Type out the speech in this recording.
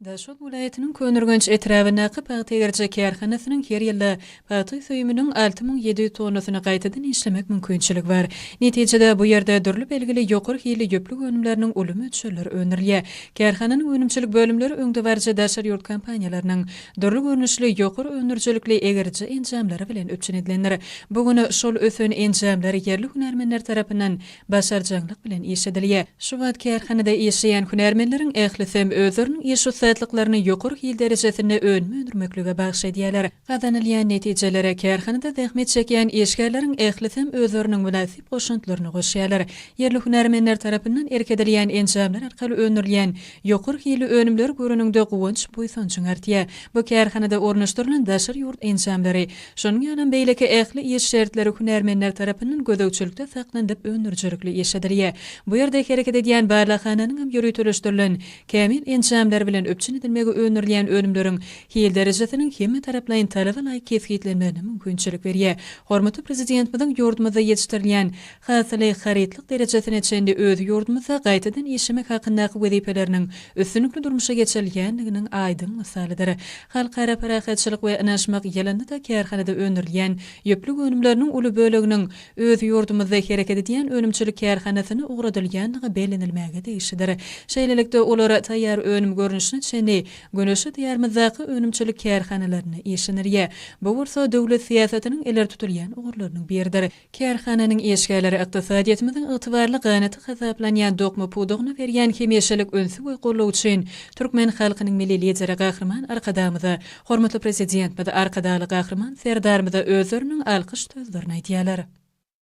Daşoguz welaýatynyň Köneürgenç etrabyndaky pagta egeriji kärhanasynyň her ýylda pagta süýüminiň alty müň ýedi ýüz tonnasyny gaýtadan işlemek mümkinçiligi bar. Netijede, bu ýerde dürli belgili ýokary hilli ýüplük önümleriniň uly möçberleri öndürilýär. Kärhananyň önümçilik bölümleri öňdebaryjy daşary ýurt kompaniýalarynyň dürli görnüşli ýokary öndürijilikli egeriji enjamlary bilen üpjün edilendir. Bu gün şol ösen enjamlar ýerli hünärmenler tarapyndan başarjaňlyk bilen iş edilýär. Şu wagt kärhanada işleýän hünärmenleriň ählisem özleriniň iş ussatlyklaryny ýokary hil derejesinde önüm öndürmeklige bagyş edýärler. Gazanylýan netijelere kärhanada zähmet çekýän işgärleriň ählisem özleriniň mynasyp goşantlaryny goşýarlar. Ýerli hünärmenler tarapyndan erk edilýän enjamlar arkaly öndürilýän ýokary hilli önümleri göreniňde guwanç-buýsanjyň artýar. Bu kärhanada ornaşdyrylan daşary ýurt enjamlary Şonuň ýalam beýleki ähli iş şertleri hünärmenler tarapyndan gözegçilikde saklanylyp öndürijilikli iş edilýär. Bu ýerde hereket edýän barlaghananyň hem ýöriteleşdirilen, kämil enjamlar bilen üpjün edilmegi öndürilýän önümleriň hil derejesiniň hemmetaraplaýyn talaba laýyk kesgitlenmegine mümkinçilik berýär. Hormatly Prezidentimiziň ýurdumyzda ýetişdirilýän hasyly, harytlyk derejesine çenli öz ýurdumyzda gaýtadan işlemek hakyndaky wezipeleriniň üstünlikli durmuşa geçirilýändiginiň aýdyň mysalydyr. Halkara parahatçylyk we ynaşmak ýylynda-da kärhanada öndürilýän ýüplük önümleriniň uly böleginiň öz ýurdumyzda hereket edýän önümçilik kärhanasyna ugradylýandygy bellenilmäge degişlidir. Şeýlelikde, olar taýýar önüm görnüşine çenli Güneşli Diýarymyzdaky önümçilik kärhanalarynda işlenilýär. Bu bolsa döwlet syýasatynyň ileri tutulýan ugurlarynyň biridir. Kärhananyň işgärleri ykdysadyýetimiziň ygtybarly ganaty hasaplanýan dokma pudagyna berýän hemişelik ünsi we goldawy üçin türkmen halkynyň Milli Lideri Gahryman Arkadagymyza, hormatly Prezidentimiz Arkadagly Gahryman Serdarymyza özleriniň alkyş sözlerini aýdýarlar.